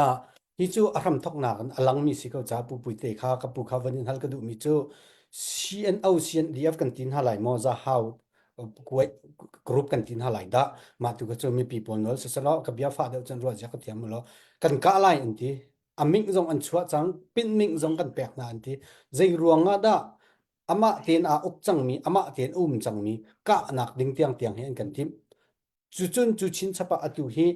Ah, hi cu a hramthoknak in a langmi si ko caah pupui te kha ka pu kha van in hal ka duhmi cu CNO, CNDF kan tin hna lai maw za hau kuai group kan tin hna lai dah mah tu ka cu mipi pawl nawl siselaw ka bia fa deuh cun ruah zia ka thiam lo kan kah lai in ti a ming zong an chuah cang pin ming zong kan pek hna an ti zei ruang ah dah amah tein aa uk cangmi amah tein um cangmi kahnak ding tiang tiang hi an kan timh Cucun cu chinchap ah atu hi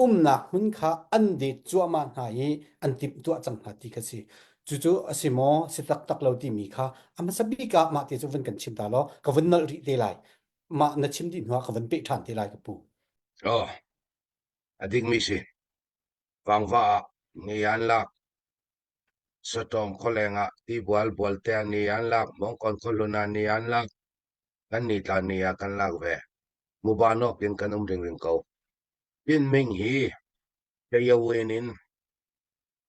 umnak hmun kha an det cuahmah hna i an timhtuah cang hna ti kha si. Cucu a si maw, si taktak lo timi kha a hmasa bik ah mah te cu vun kan chim ta law ka vun nalh rih te lai. Mah na chim dih hnu ah ka vun peh ṭhan te lai ka pu. Oh, a dikmi si. Vangva ah ni an lak. Sotong kholeng ah tibual bualte ni an lak. Mongkon kholun ah ni an lak. Kannih tlan ni ah kan lak ve. Muban awk in kan um ringring ko. Pin Ming hi Kayawen in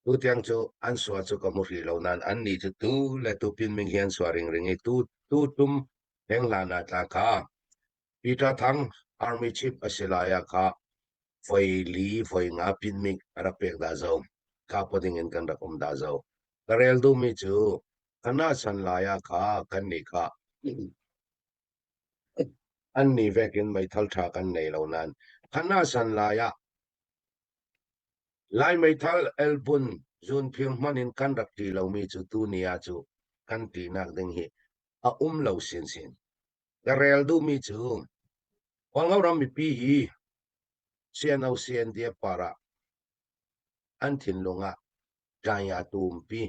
tutiang cu an sua cu ka hmu ri lo nain an ni cu tu le tu Pin Ming hi an sua ringring i tu tu tum henglan ah tla kha Peter Thang Army Chief a si lai ah kha voi li voi nga Pin Ming a rak pek da zo. Kha pa ding in kan rak um da zo. Ka rel duhmi cu ka nahsan lai ah kha kannih kha an ni vek in meithal ṭha kan nei lo nain ka nahsan lai ah Lai meithal elbun zun phir hmanh in kan rak ṭi lomi cu tu ni ah cu kan ṭinak ding hi a um lo sinsin. Ka rel duhmi cu Kawlngo ram mipi hi CNO CNDF parah An thinlung ah ṭanya tu umpi,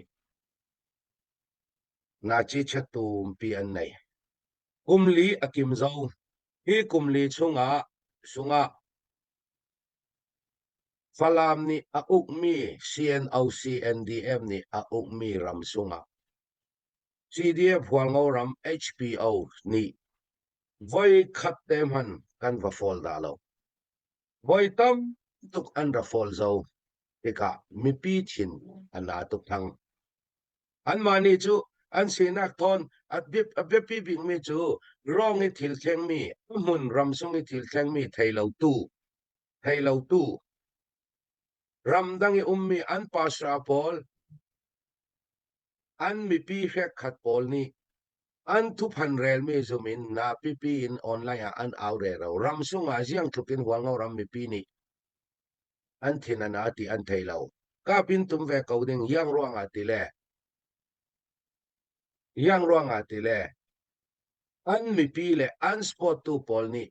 ngaci chiat tu umpi an nei. Kum li a kim zo, hi kum li chungah sungah Falam nih a ukmi CNO-CNDM nih a ukmi ram sungah CDF hualngo ram HPO nih voi khat te hman kan va fawl dah lo. Voi tam tuk an ra fawl zo. Tikah mipi thin an na tuk thang. Anmah nih cu an sinak thawn atbip abiapi bikmi cu rong i thil thlengmi hmun ram sung i thil thlengmi theilotu theilotu ramdang i ummi an pasra pawl an mipi hrekhat pawl nih an thuphan relmi zum in na pipi in online ah an au re ro ram sungah ziang thuk in hualngo ram mipi nih an thin an ti an thei lo kapin tum ve ko ding yang ruang ah ti le yang ruang ah ti le an mipi le an sport tu pawl nih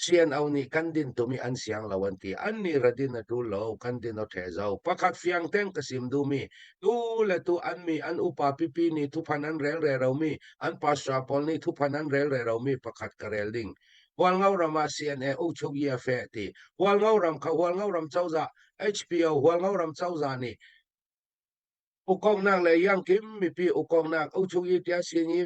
CNO nih kan din tum i an siang lo an ti an nih ra din a ṭul lo kan din a ṭhe zo pakhat fiang teng ka sim duhmi tu le tu an mi an upa pipi nih thuphan an rel re romi an pastor pawl nih thuphan an rel re romi pakhat ka rel ding hualngo ram ah CNA uchuk ia fe ti hualngo ram kha hualngo ram cozah HPO hualngo ram cozah nih ukongnak le yang kim mipi ukongnak uchuk i tia sin i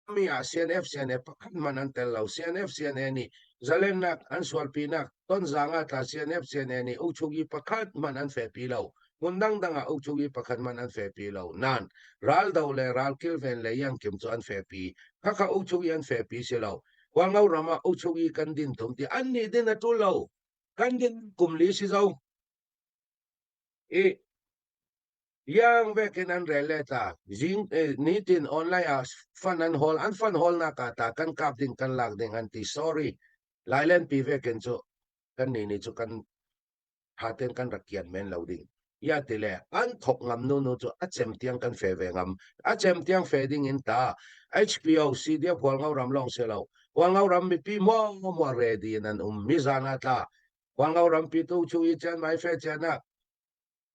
mi ah CNF CNF pakhat man an tel lo CNF CNA nih zalennak an sualpinak tonzang ah ta CNF CNA nih ukchungi pakhat man an fe pi lo hmun dangdang ah ukchungi pakhat man an fe pi lo nan ral do le ral kilven le yang kim cu an fe pi khakha ukchungi an fe pi si lo kwangau rama ukchungi kan din tum ti an ni din atul lo kan din kumli si zo i Iang vekin an rel le ta. Zing eh, nitin online ah fan an hol an fan hol nak ah ta kan kap ding kan lak ding an ti sorry. Lailen pi vekin chu kan ni ni chu kan haten kan rakian men lo ding. Ya ti le an thok ngam nu nu chu a chem tiang kan fe ve ngam. A chem tiang fe ding in ta HPOC dia pual ngau ram long se lo. Pual ngau ram mi pi mo mo ready nan um mi zana tla. Pual ngau ram pi tu chu i chan mai fe chan na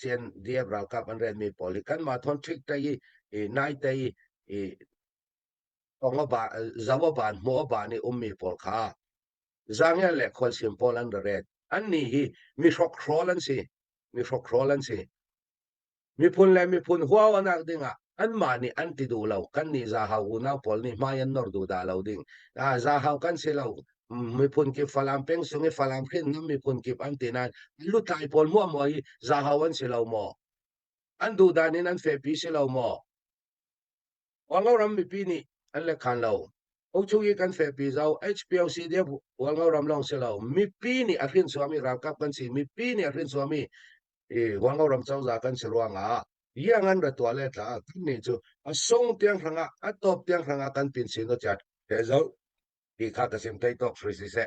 CNDF ralkap an renmi pawl hi kanmah thonṭhik te i nai te i zau a baan, hmu a baan i ummi pawl kha zangial le khualsim pawl an ra ret. Annih hi mihrokhrol an si. Mihrokhrol an si. Miphun le miphun huau anak dingah anmah nih an ti duh lo kan nih zahau unau pawl nih hmai an nor duh dah lo ding ah zahau kan si lo miphun kip falam peng sung i falam khin ngam miphun kip an ti nain lutlai pawl mua mua hi zahau an si lo maw an duh dan in an fehpi si lo maw Wango ram mipi nih an le khan lo Uchu i kan fehpi zau HPLC dia Wango ram long si lo mipi nih a hrin suami ralkap kan si mipi nih a hrin suami i Wango ram chauza kan si ruangah yang an ra tua le tla kan ni chu a sung tiang hrang a a top tiang hrang a kan pin sin no chat te zo ti kha ka sim thei tok ri si se